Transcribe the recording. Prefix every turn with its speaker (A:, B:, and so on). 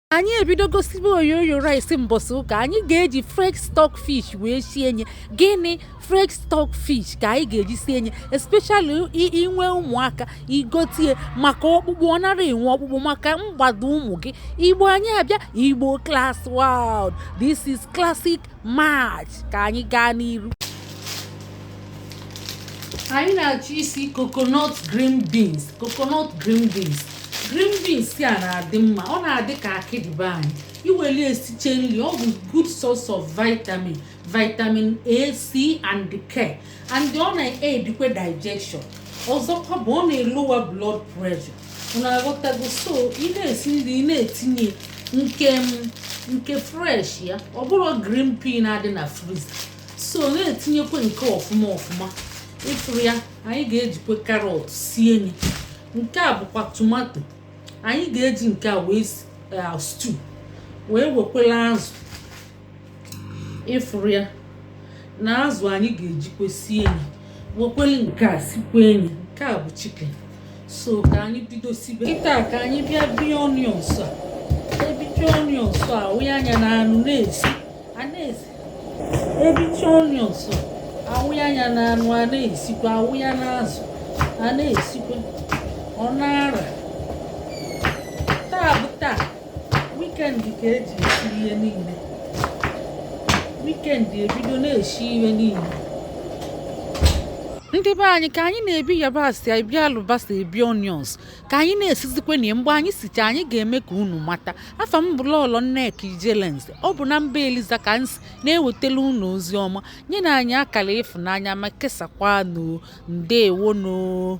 A: anyị ebido gosibe oyoyo rice mbọsị ụka anyị ga-eji fresh stock fish wee sie nye gịnị fresh stock fish ka anyị ga-eji sie nye especially i- inwe ụmụaka igotie maka ọkpụkpụ ọ nara enwe ọkpụkpụ maka mgbado ụmụ gị igbo anyị abịa igbo class world this is classic match ka anyị gaa n'iru anyị na-achọ isi coconut green beans coconut green beans green beans a na-adị mma ọ na-adị ka akịdị be anyị iweli esiche nri ọ bụ good source of vitamin vitamin a c and k and ọ na-edikwe digestion ọzọkwa bụ ọ na-elowa blood pressure unu aghọtago so ị na-esi nri ị na-etinye nke nke fresh ya ọ bụrụ green pea na-adị na freezer so na-etinyekwe nke ọfụma ọfụma ịfụrụ ya anyị ga-ejikwe carrot sie nye nke a bụkwa tomato anyị ga-eji nke a wee eh, stew wee wekwela azụ ịfụrụ ya na azụ anyị ga-ejikwe sie nye wekwele nke a sikwe nye nke a bụ chicken so ka anyị bido sibe kịta ka anyị bịa bie onions a ebiche onions a wụnye nya na anụ na-esi a na-esi ebiche onions awụnye nya na anụ a na-esikwa awụ ya na azụ a na-esikwa ọ na-ara taa bụ taa weekend ka eji esi ihe niile weekend ebido na-esi ihe niile ndị be anyị ka anyị na-ebi yabasị ebi alụbasa ebi onions ka anyị na-esizikwa nya mgbe anyị sicha anyị ga-eme ka unu mata afa m bụ lọlọ nneka ijelenz ọ bụ na mba eliza ka m si na-ewetala unu ozi ọma nyenụ anyị akara ịfụnanya ma kesakwa nụ o ndewo nụ o